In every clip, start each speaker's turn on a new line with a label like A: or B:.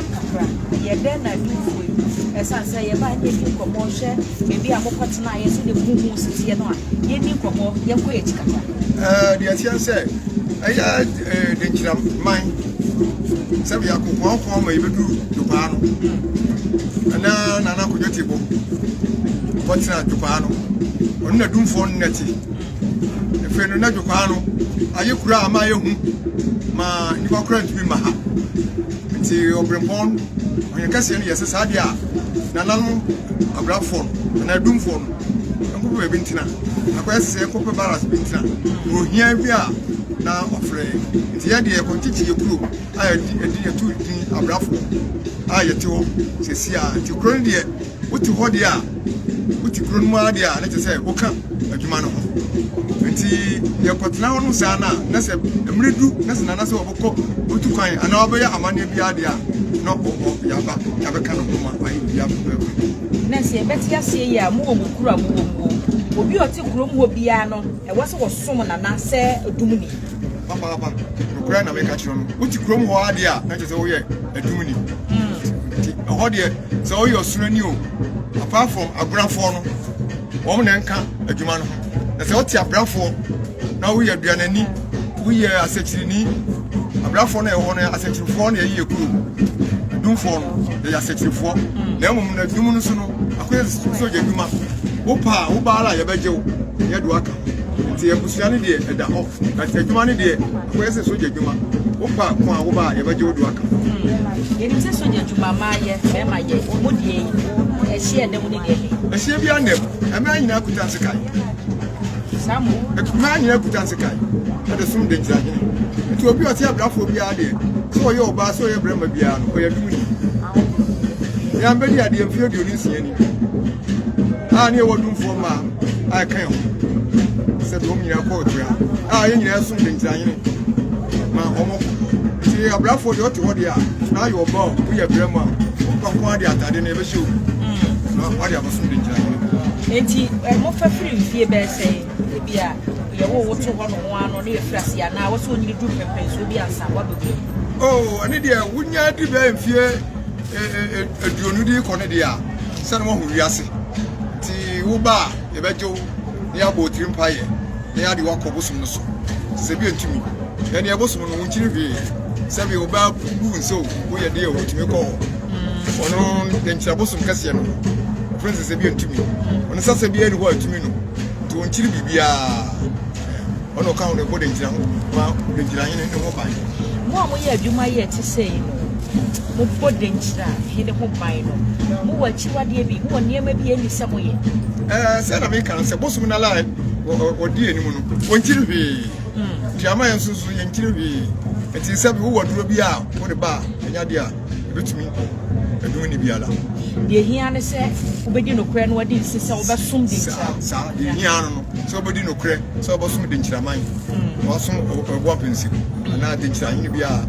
A: kakra. Yɛ dɛn na adwumfo yi, esiane
B: sɛ yɛbae na yedii nkɔmmɔ hwɛ baabi a mokɔtenae nso de mo ho si teɛ no a, yenni nkɔmmɔ, yɛnkɔ yɛn akyi kakra? Ɛɛ, deɛ ɛteɛ ne sɛ, ɛyɛ ɛɛ denkyira man sɛ yɛakokoakoa ma yɛbɛduru dwopaa no. Ɛna Nana Kodwo Tibbo kɔtena dwopaa no. Ɔno na dumfoɔ nnɛte. afei no n'adwo kwaa no ayɛ kura a ama ayɛ hu ma nnipa kora ntumi ma ha nti ɔbrempɔn ɔyɛ kɛseɛ no yɛ sɛ saa deɛ a nananom abrafoɔ no anaa adumfoɔ no nkɔpɛ baabi ntena akɔyɛ sɛ nkɔpɛ baras bi ntena na ohia bi a na ɔfrɛ nti yɛ deɛ kɔnkyekye yɛ kuro a yɛdi yɛto din abrafoɔ a yɛte hɔ sɛsi a nti kuro no deɛ Wote hɔ deɛ a, wote kuro no mu ara deɛ a, na kyerɛ sɛ woka adwuma no ho. Nti yɛkɔtena hɔ nom saa no a, na sɛ mmerɛ du na sɛ nana sɛ wɔbɛkɔ otu kwan anaa wɔbɛyɛ amanneɛ biara deɛ a, na ɔwɔ hɔ yɛaba yɛabɛka no ho ma ayɛ biribiara pɛpɛɛpɛ. Na sɛ yɛbɛte aseɛ yi
A: a, mowɔ mo kuro a mowɔ mu o, obi a ɔte kurom hɔ biara no, ɛwɔ sɛ wɔsom nana sɛ dumuni. papaapa
B: nokorɛ na meka kyerɛ no wote kurom hɔ adeɛ a na kyerɛ sɛ woyɛ adum ni nti ɛhɔ deɛ sɛ woyɛ ɔsorani o apart from agorafoɔ no wɔn na ɛnka adwuma no ho na sɛ wote abrafoɔ na woyɛ aduanani woyɛ asɛkyirini abrafoɔ no ɛhɔ no asɛkyirifoɔ na ɛyɛ kuro dumfoɔ no ɛyɛ asɛkyirifoɔ na mmom na adum no so no akɔyɛ sogya adwuma wo paa wo baala yɛbɛgye wo yɛde waka nti abusua no deɛ ɛda hɔ but adwuma no deɛ akɔyɛ sɛ sogya adwuma wopa ko a woba a yɛbɛgye wo do aka yɛnim sɛ
A: sogya adwuma ma yɛ bɛma yɛ ɔmu deɛ ɛhyeɛ dɛm ne deɛ ɛhyeɛ bia
B: nnɛm ɛmaa nyinaa kuta nse kae
A: ɛmaa
B: nyinaa kuta nse kae ɛde som de nkyerɛ hene nti obi ɔte abrafoɔ biara deɛ sɛ ɔyɛ ɔbaa sɛ ɔyɛ brɛma biara no ɔyɛ dumuni yɛn bɛdi adeɛ mfeɛ aduonu nsia ni a ne ɛwɔ dumfoɔ mma a ɛka ho sɛ deɛ wɔn nyinaa kɔ ɔtua a yɛn nyinaa som de ntiranyene ma wɔn nti abrafoɔ deɛ ɔte hɔ deɛ a na ayɛ ɔba o woyɛ brɛ mu a ɔba nko ara de atade no ɛbɛhyɛ o na wade abɛsom de ntiranyene nti eh, mofa
A: firi mfie bɛɛ sɛ ebi a yɛwo wo to hɔ no ho ano ne yɛfiri
B: ase anaa wɔ sɛ ɔnyini duru pɛmpɛnsoɔ bi ansa woabɛkɔ mu oh, ɛne deɛ wonya di bɛɛ mfie eh, eh, aduonu de kɔ no deɛ a sɛne woahu wiase nti woba a yɛbɛgye wo na yɛabɔ otiri mpaeɛ na yɛade woakɔ bosom no so sɛ bi ntumi ɛneɛ bosom no wo nkyiri hwee sɛ bi wobaa bu nsɛ o woyɛ deɛ o wotumi kɔ hɔ ɔno dɛnkyerɛ bosom kɛseɛ no ɔfrɛ sɛ sɛ bi ntumi ɔno sɛ sɛ biaa ne hɔ atumi no nti wo nkyiri biribiaa ɔne ɔka ho ne bɔ dɛnkyerɛ ho ma dɛnkyerɛ hene ne ho ban mo a moyɛ adwuma
A: yɛ te sɛ yi no Mobɔ dɛn gyina Hene ho ban no? Mowɔ
B: akyiwadeɛ bi? Mowɔ nneɛma bi a ɛnni sɛ moyɛ? Ɛɛ, sɛ na meka no sɛ bosom no la wɔdi anim no, wɔnkyiri hwee. Hmm. Nti ama yɛn nso nso yɛnkyiri hwee. Nti sɛ wowɔ aduro bi a wode ba a, ɛnyɛ adeɛ a ɛbɛtumi ɛdum ne biara. Deɛ hia ne
A: sɛ wobɛdi nokorɛ no adi nse sɛ wobɛsom de nkyira. Saa deɛ hia no no
B: sɛ wobɛdi nokorɛ sɛ wobɛsom de nkyiraman, hmm. wasom ɔboa pɛnsi anaa de nkyira hene biara.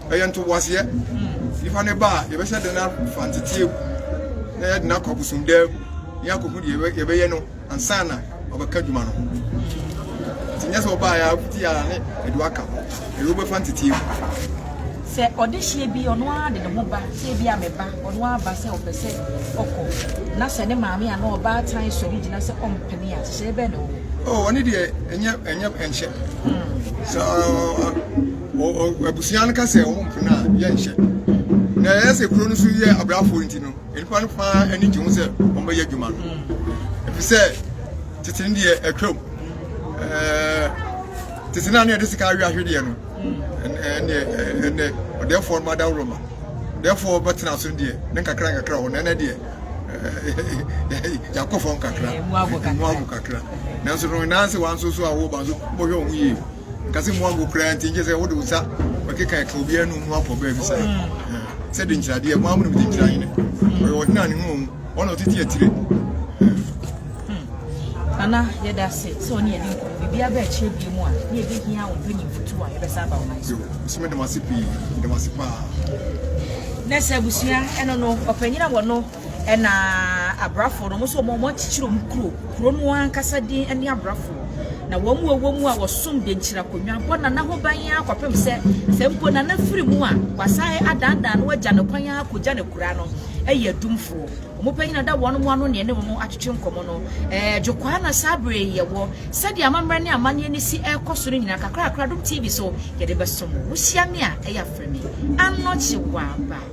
B: ɛyɛ ntoboaseɛ nipa ne ba a yɛbɛhyɛ de no afa nteteɛ mu na yɛde no akɔ abosomdaa mu ne akɔhu deɛ yɛbɛyɛ no ansa na ɔbɛka adwuma no ho nti nyɛ sɛ ɔbaeɛ a wokuti a ne ɛde waka ho ɛyɛ wobɛfa nteteɛ mu
A: sɛ ɔdehyeɛ bi ɔno ara de ne ho ba sɛ bi a mɛba ɔno ara ba sɛ ɔpɛ sɛ ɔkɔ na sɛ ne maame a na ɔbaa tan sɔre gyina sɛ ɔmpene a hyehyɛ bɛn na ɔwɔ ɔne deɛ
B: ɛnyɛ ɛnyɛ ɛnhyɛ hmm. sɛ Abusua no ka sɛ wɔn mpena a yɛnhyɛ. Na ɛyɛ sɛ kuro no so yɛ abrafoɔ nti no, nnipa no paa ani gye ho sɛ wɔbɛyɛ adwuma no. Ɛfiri sɛ tete no deɛ atwam. Tete no a na yɛde sika awe ahwedeɛ no, ɛnɛ ɔdɛfoɔ no adaworo ma. Dɛfoɔ bɛtena so deɛ ne nkakra nkakra hɔ na ɛnɛ deɛ yɛakɔ fam kakra, mu ago kakra. Nanso no, nanse wɔn nso so a wɔba nso, wɔhwɛ wɔn yie. nkase mu ango koraa nti nkyɛ sɛ wode wo nsa bɛkeka ɛka obi anum no akɔ baabi sɛ sɛ de nkyiradeɛ mo amonom de nkyira hene ɔyɛ ɔhene a ne ho ɔmu ɔna ɔtete atire
A: ana yɛda ase sɛ ɔne yɛde nkɔ biribia bɛ akyerɛ bie mu a ne yɛbɛhia wo mpɛ nyimfotu a yɛbɛsa aba wo man so so medam ase pii
B: medam ase paa
A: na sɛ abusua ɛno no ɔpanyina wɔ no Ɛna abrafo no mo so wɔn akyikyiri wɔn kuro kuro no ankasa din ɛne abrafo na wɔn mu ɛwɔ mu a wɔsom de nkyira konwa bɔ nana ho ban yɛn akɔpem sɛ sɛ mpo nana firi mu a wasae adandan no agya no kwan yɛn akɔgya no kura no ɛyɛ adumfoɔ wɔn panyin ada wɔn mu ano ne ɛne wɔn atwetwe nkɔmɔ no ɛɛ dwokwaa na saa bere yɛwɔ sɛdeɛ amammerɛ ne amanneɛ ne si ɛkɔ so no nyinaa kakrakra dom tv so yɛde bɛsom wo hyia me a ɛyɛ afrɛ me anɔkye waba